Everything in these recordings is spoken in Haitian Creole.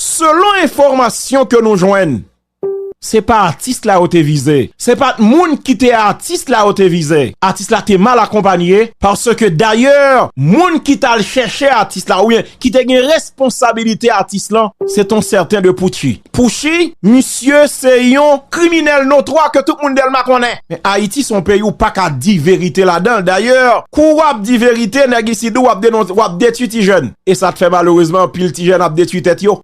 Selon enfòmasyon ke nou jwenn, se pa atis la yo te vize, se pat moun ki te atis la yo te vize, atis la te mal akonpanye, paske dayè moun ki tal chèche atis la oubyen ki te gen responsabilite atis lan, se t on sèten de Pouchi. Pouchi, misye se yon kriminèl notwa ke tout moun Dèlma konnen. Men Ayiti s on peyi ou pa ka di verite ladan l, dayè kou w ap di verite nèg isidou w ap denonse, w ap detwi ti jèn. E sa k fè malerezman anpil ti jèn ap detwi tèt yo.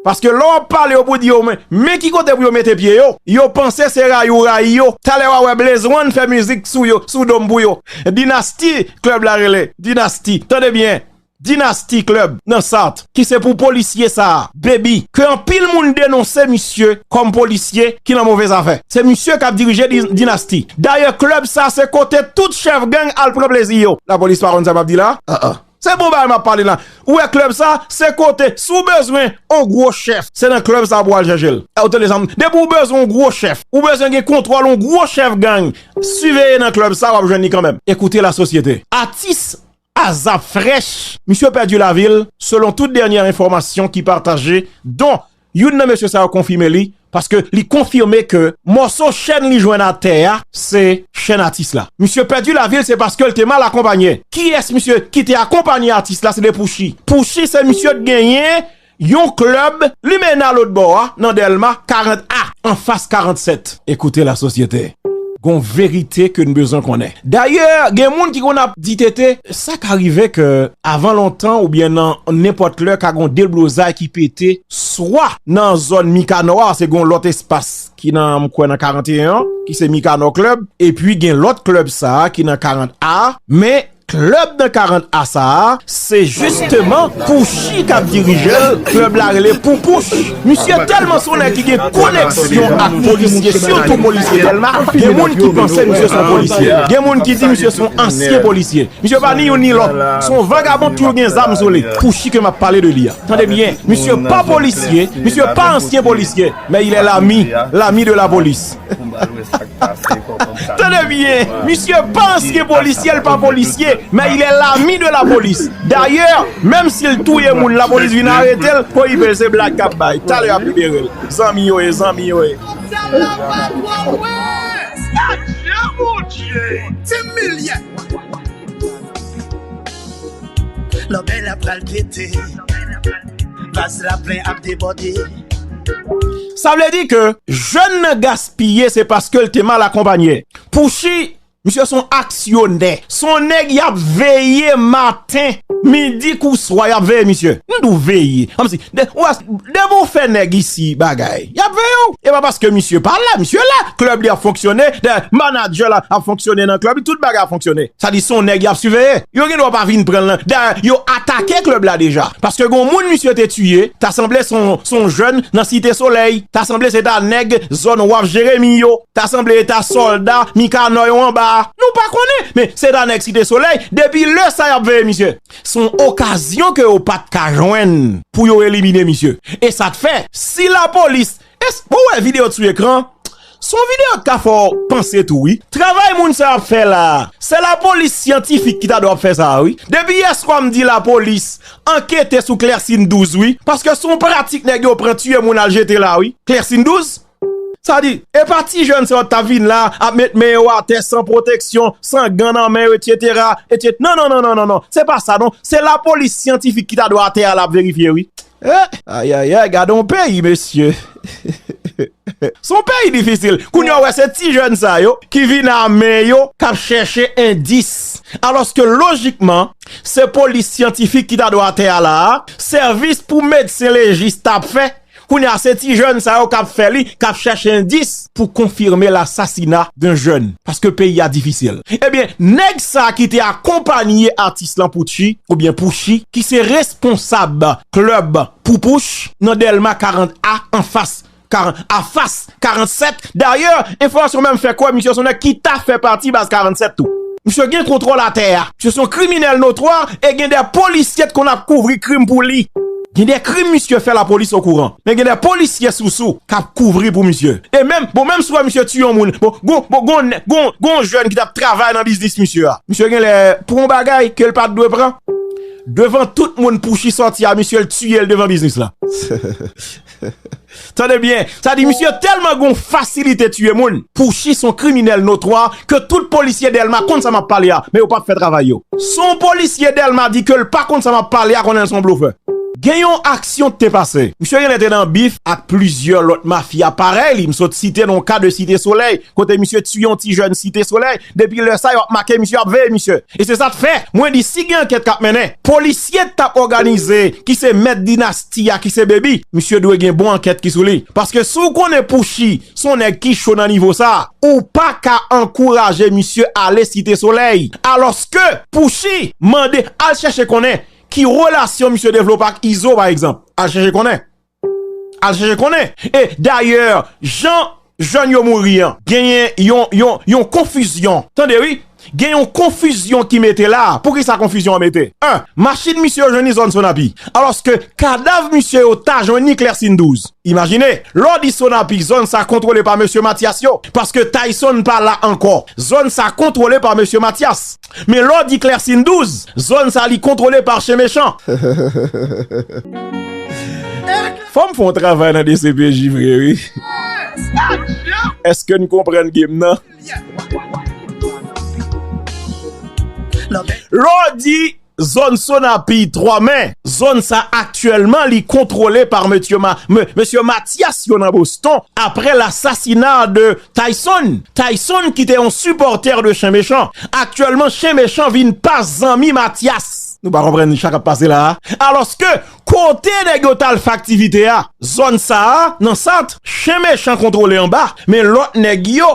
Paske lè w ap pale yo pou w di yo men ki kote pou yo mete pye yo, yo panse se rayi ou rayi yo. Talè w a wè Blaze One fè mizik sou yo, sou do m pou yo. Dinasti Club la rele Dinasti, tande byen, Dinasti Club nan Sart. Ki se pou polisye sa a, Baby, ke anpil moun denonse misye kòm polisye ki nan move zafè. Se misye k ap dirije Dinasti. Dayè Club sa se kote tout chèf gang al pran plezi yo. Lapolis pa konn sa m ap di la a? Se bon bagay map pale la. Ou wè club sa, se kote si w bezwen on gwo chèf, se nan club sa pou al chèche l. Ou tande sa m di? Depi w bezwen on gwo chèf, ou bezwen gen kontwòl on gwo chèf gang, siveye nan club sa wap jwenn li kanmenm. Écoutez la société. Atis Azap Fresh, misye pèdi lavi l, selon tout dènyè enfòmasyon ki pataje, don Youn nan mesye sa yo konfime li paske li konfime ke mòso chèn li jwenn atè a se chèn atis la. Misye pèdi lavi l se paske l te mal akonpanye. Kiyès misye ki te akonpanye atis la se te Pouchi. Pouchi se misye t genyen yon klèb limenna lotbò a nan Dèlma 40 a anfas 47. Ekoute la sosyete, gon verite ke n bezwen konnen. Dayè, gen moun ki konn ap di Tete, sa ka rive ke avan lontan oubyen nan nenpòt lè ka gon deblozay ki pete swa nan zòn Mikanò a, se gon lòt espas ki nan, m kwè nan 41 an, ki se Mikanò Club, epi gen lòt club sa a ki nan 40 A, men, Club nan 40 a sa a se jisteman Pouchy k ap dirije l, club la rele Poupouch. Misye tèlman s on nèg ki gen koneksyon ak polisye sitou polisye Dèlma, gen moun ki panse misye s on polisye, gen moun ki di misye s on ansyen polisye. Misye pa ni youn ni lòt, s on vagabon k toujou gen zam sou li, Pouchy ke m ap pale de li a. Tande byen, misye pa polisye, misye pa ansyen polisye, men il è l'ami, l'ami de la police. Tande byen, misye panse ke polisye l pa polisye, men il est l'ami de la police. Dayè, menm si l touye moun la polis vin arete l, ho yp se blag kap bay, talè yap libere l. Zanmi yo ye, zanmi yo ye. Sa vle di ke jèn nan gaspiye se paske l te mal akonpanye. Pouchi, misye son aksyonè. Son nèg y ap veye maten, midi kou swa y ap veye misye. M di w veye, kòmsi, depi w fè nèg isi bagay, y ap veye w. E pa paske misye pa la, misye la. Klèb li ap fonksyone, manadjè l ap fonksyone nan klèb li, tout bagay ap fonksyone. Sa di son nèg y ap siveye. Yo gen dwa pa vin pran l nan, dayè yo atake klèb la deja. Paske gon moun misye te tiye, ta sanble se yon jèn nan Site Solèy, ta sanble se ta nèg zòn Waf Jeremi yo, ta sanble e ta sòlda Mikanò yo anba a. Nou pa konnen, men se ta nèg Site Solèy, depi lè sa y ap veye misye. Se yon okazyon ke yo pa t ka jwenn pou yo elimine misye. E sa k fè, si lapolis Eske ou wè video sou ekran? Son video ki ka fè w panse tou wi. Travay moun sa ap fè la a, se lapolis syantifik ki ta dwe ap fè sa a wi. Depi yè swa m di lapolis ankete sou klèsin 12 wi. Paske son pratik nèg yo pran tiye moun al jete la wi. Klèsin 12? Sa di, e pa ti jèn sa yo ta vin la ap met men yo atè san pwoteksyon, san gan nan men yo etsetera, etset. Non non non non non non. Se pa sa non. Se lapolis syantifik ki ta dwe atè a la ap verifye wi. Eh ayayay gade yon peyi mesye Se yon peyi difisil Kounye a ou wè se ti jèn sa yo ki vin ame yo k ap chèche endis Alòske lojikman se polis syantifik ki ta dwe atè a la a Sèvis pou medsen lejis t ap fè Kounye a se ti jèn sa yo k ap fè li k ap chèche endis pou konfime l asasina d'un jeune paske peyi a difisil ebyen nèg sa ki te akonpanye atis lan Poutchi oubyen Pouchi ki se responsab club Poupouch nan Dèlma 40 a anfas a fas 47 dayè enfòmasyon menm fè kwè misye son nèg ki ta fè pati baz 47 tou misye gen kontwòl atè a. Misye son kriminèl notwa e gen de polisye t konn ap kouvri krim pou li. Gen de krim misye fè lapolis okouran. Men gen de polisye sousou k ap kouvri pou misye. E menm, bon menm si w wè misye tiye yon moun, bon gon, bon gon nèg, gon, gon jèn ki t ap travay nan biznis misye a. Misye gen lè pran yon bagay ke l pa t dwe pran. Devan tout moun Pouchi sòti a misye l tiye l devan biznis la. Tande byen, sa di misye telman gon fasilite tiye moun. Pouchi son kriminel notwa ke tout polisye delma konn sa map pale a men yo pap fè travay yo. Son polisye delma di kel pa konn sa map pale a konnenl son blofè. Gen yon aksyon ki te pase. Misye genlè te nan bif ak plizyè lòt mafya parèy li, m sot site non ka de site solèy kote misye tiye yon ti jèn site solèy Depi lè sa yo ap make misye, yo ap veye misye. E se sa t fè mwen di si gen ankèt k ap mennen, polisye t ap òganize ki se mèt dinasti a ki se Baby, misye dwe gen bon ankèt ki sou li. Paske si w konnen Pushy s on nèg ki cho nan nivo sa, ou pa ka ankouraje misye ale Site Solèy. Alòske Pushy mande al chèche konnen ki relasyon misye devlope ak Izo pa egzanp. Al chèche konnen. Al chèche konnen. E dayè jan jèn yo mouri an genyen yon konfizyon. Tande wi. Gen yon konfizyon ki mete la. Poukisa konfizyon an mete? 1, Machin misye yo jwenn li zòn Sonapi. Alòske kadav misye yo ta jwenn li Klèsin 12. Imajine, lè w di Sonapi, zòn sa kontwole pa mesye Matyas yo. Paske Tayson pa la ankò. Zòn sa kontwole pa mesye Matyas. Men lè w di Clercine 12, zòn sa li kontwole par chen mechan. Fò m fè yon travay nan dcpj vre wi. Eske n konprann game nan? Lè w di zòn Sonapi, 3 mè, zòn sa aktyèlman li kontwole par mesye Matyas yo nan Boston apre lasasina de Tayson Tayson ki te yon sipòtè de Chen Mechan, aktyèlman Chen Mechan vin pa zanmi Matyas. Nou pa konprann sa k ap pase la a? Alòske, kote nèg yo t al fè aktivite a? Zòn sa a, nan Sant, Chen Mechan kontwole anba, men lòt nèg yo,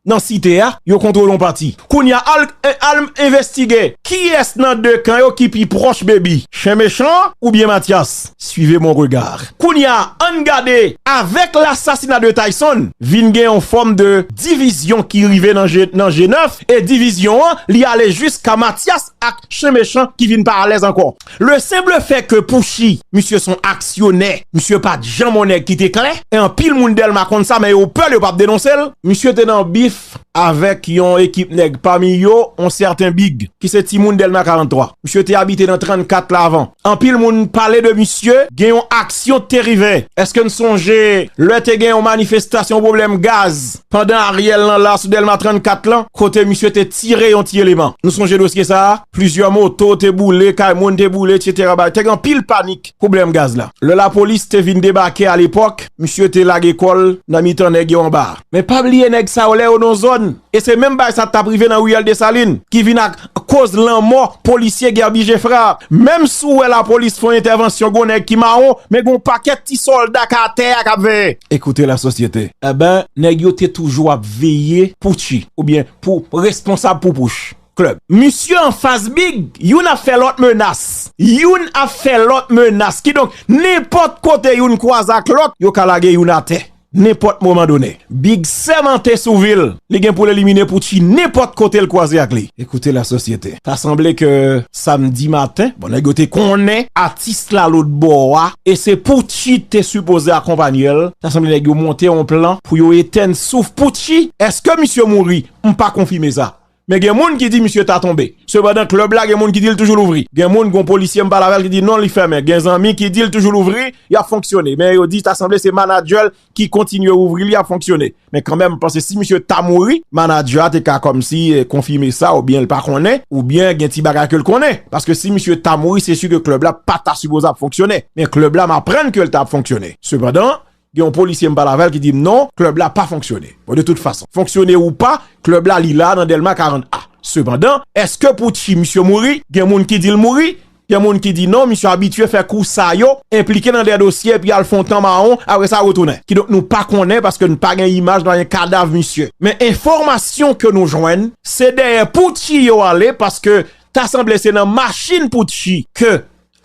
nan Site a, yo kontwole yon pati. Kounye a, al, al m envestige kiyès nan de kan yo ki pi pwòch Baby, Chen Mechan oubyen Matyas? Suivez mon regard. Kounya ann gade. Avèk l'assassinat de Tayson, vin gen yon fòm de divizyon ki rive nan G9 e divizyon an li ale jiska Matyas ak Chen Mechan ki vin pa alèz ankò. Le simple fait que Pushy, misye son aksyonè, misye pat janm on nèg ki te klè, e anpil moun Dèlma konn sa men yo pè l yo pap denonse l, misye te nan bif avèk yon ekip nèg pami yo yon sèten Big ki se timoun Dèlma 43. Misye te abite nan 34 la avan. Anpil moun pale de misye, gen yon aksyon te rive. Èske n sonje lè te gen yon manifestasyon pwoblèm gaz pandan Ariel nan la sou Dèlma 34 lan kote misye te tire yon ti eleman? Nou sonje dosye sa a? Plizyè moto te boule, kay moun te boule, etsetera. Te gen anpil panik. Pwoblèm gaz la. Lè lapolis te vin debake alepòk, misye te lage kò l nan mitan nèg yo anba a. Men pa bliye nèg sa yo lè yo nan zòn, e se menm bagay sa t ap rive nan Riyèl Desalin, ki vin ak koz lanmò polisye Guerby Geffrard a. Menm si w wè lapolis fè yon entèvansyon gen yon nèg ki mawon, men gen yon pakèt ti sòlda k atè a k ap veye. Écoutez la société. Enben, nèg yo te toujou ap veye Pucci, oubyen pou responsab Pupouch. club. Misye anfas big, youn ap fè lòt menas. Youn ap fè lòt menas. Kidonk, nenpòt kote youn kwaze ak lòt, yo ka lage youn atè. Nenpòt moman done. Big sèmante sou vi l, li gen pou l elimine Poutchi nenpòt kote l kwaze ak li. Ekoute la sosyete. Ta sanble ke samdi maten, bon nèg yo te konnen atis la lòt bò a, e se Poutchi te sipoze akonpanye l, ta sanble nèg yo monte yon plan pou yo etèn souf Poutchi. Eske misye mouri? M pa konfime sa. Men gen moun ki di misye ta tonbe. Sepandan klèb la gen moun ki di l toujou louvri. Gen moun, gon polisye m pale avè l ki di non li fèmen. Gen zanmi ki di l toujou louvri, y ap fonksyone. Men yo di ta sanble se manadjè l ki kontinye ouvri li ap fonksyone. Men kanmenm m panse si misye ta mouri, manadjè a te ka kòmsi konfime sa oubyen l pa konnen, oubyen gen ti bagay ke l konnen. Paske si misye ta mouri se si ke klèb la pa ta sipoze ap fonksyone. Men klèb la m aprann ke l ta ap fonksyone. Sepandan, Gen yon polisye m pale avè l ki di m non, klèb la pa fonksyone. Bon, de tout fason, fonksyone ou pa, klèb la li la nan Dèlma 40 A. Sepandan, èske pou Tchi misye mouri? Gen moun ki di l mouri, gen moun ki di non, misye abitye fè kou sa yo, enplike nan dè dosye epi al fè yon tan mawon, apre sa retounen. Kidonk nou pa konnen paske n pa gen imaj, n pa gen kadav misye. Men enfòmasyon ke nou jwenn, se dèyè pou Tchi yo ale paske ta sanble se nan machin pou Tchi ke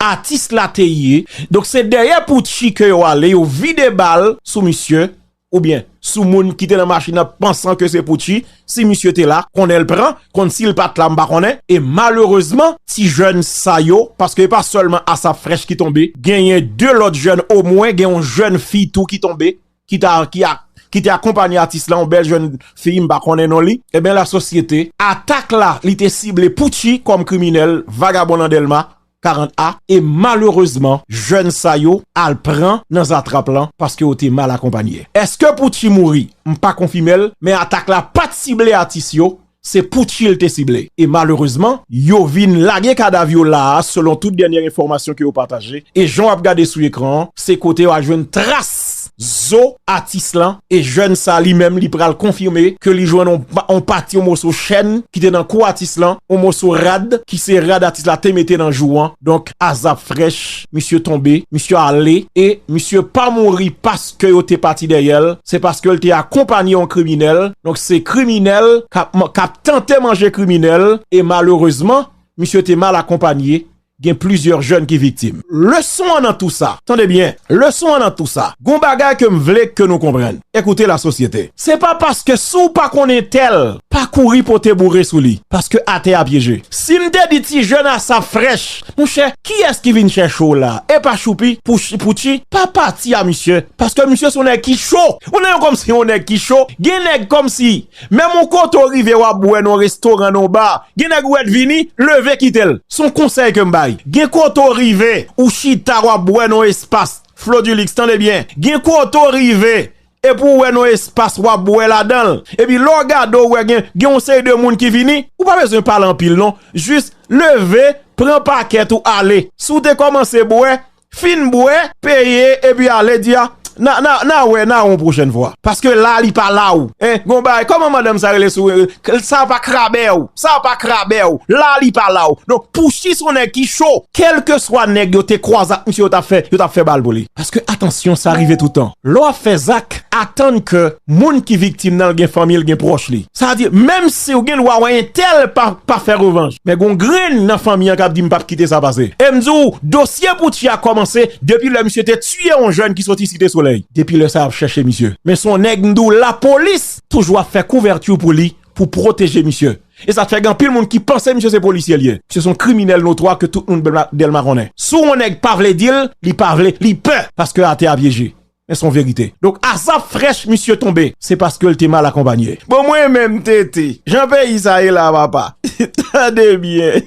Atis la te ye, donk se dèyè Poutchi ke yo ale, yo vide bal sou misye, oubyen sou moun ki te nan machin nan pansan ke se Poutchi, si misye te la, konnen l pran, konn si l pa t la m pa konnen. E malerezman, ti jèn sa yo, paske e pa sèlman Asaph Fresh ki tonbe, genyen 2 lòt jèn, omwen gen yon jèn fi tou ki tonbe, ki ta ki ak ki te akonpanye atis la yon bèl jèn fi m pa konnen non li enben la sosyete. Atak la li te sible Poutchy kòm kriminèl vagabon nan Dèlma 40 a e malerezman jèn sa yo al pran nan zatrap lan paske yo te mal akonpanye. Eske Poutchy mouri? M pa konfime l men atak la pat sible atis yo Se Pucci l te sible e malerezman yo vin lage kadav yo la a selon tout dènyè enfòmasyon ke yo pataje e jan w ap gade sou ekran an se kote w al jwenn tras zo atis lan e jèn sa li menm li pral konfime ke li jwenn on pati on moso chèn ki te nan kou atis lan on moso rad ki se rad atis la te mete nan jou an donk azap frèch misye tonbe misye ale e misye pa mouri pa ke yo te pati dèyè l, se paske l te akonpanye yon kriminèl, donk se kriminèl k ap tante manje kriminèl, e malerezman, misye te mal akonpanye, gen plizyè jèn ki viktim. Leson an nan tou sa, tande byen, leson an nan tou sa, gon bagay ke m vle ke nou konprann, ekoute la sosyete, se pa paske si w pa konn entèl, pa kouri pote boure sou li, paske atè a pyeje. Si m te di ti jèn asap frèch, Mon chè kiyès ki vin chèche w la epa choupi pou poutchi pa pati a misye paske misye son nèg ki cho ou nan yon komsi yon nèg ki cho gen nèg komsi menm yon kote ou rive wap bwè nan yon restoran nan yon bar gen nèg ou wè t vini leve kite l son konsèy kem bay gen kote ou rive ou chita wap bwè nan yon espas Flodulix tande byen gen kote ou rive Epi ou wè yon espas wap bwè ladanl. Epi lè w gade ou wè gen yon seri de moun ki vini. Ou pa bezwen pale anpil non. Jis leve, pran pakèt ou ale. Si w te kòmanse bwè, fin bwè. Peye epi ale di a na wè na wè yon pwochèn fwa. Paske la li pa la ou. Gen yon bagay, kòman madanm sa rele sou. Sa pa krabè ou. Sa pa k rabè w, la li pa la w. Donk Pouchis son nèg ki cho. Kèlkeswa nèg yo te kwaze ak misye yo t ap fè, yo t ap fè bal pou li. Paske atansyon sa rive toutan. Lè w ap fè zak, atann ke moun ki viktim nan gen fanmi l, gen pwòch li. Sa vle di, menm si w gen dwa wè entèl pa fè revanj, men gen yon grenn nan fanmi an k ap di m p ap kite sa pase. E m di w, dosye Pouchi a kòmanse depi lè misye te tiye yon jèn ki soti Site Solèy. Depi lè sa y ap chèche misye. Men son nèg m di w lapolis toujou ap fè kouvèti pou li pou pwoteje misye. E sa fè gen anpil moun ki panse misye se polisye li ye. Misye se yon kriminèl notwa ke tout moun Delma konnen. Si yon nèg pa vle di l, li pa vle, li pè paske atè a pyeje. Men se yon verite. Donk Azap Fresh misye tonbe, se paske l te mal akonpanye. Bon mwen menm TT, jan peyi sa ye la papa, tande byen.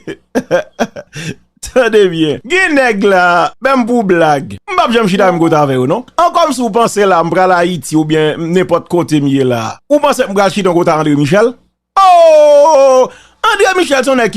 Tande byen, gen nèg la, menm pou blag, m pap janm chita menm kote avè yo non. An kòmsi ou panse la m pral Ayiti oubyen nenpòt kote m ye la, ou panse m pral chita yon kote a André Michel? Oo! André Michel se yon nèg ki.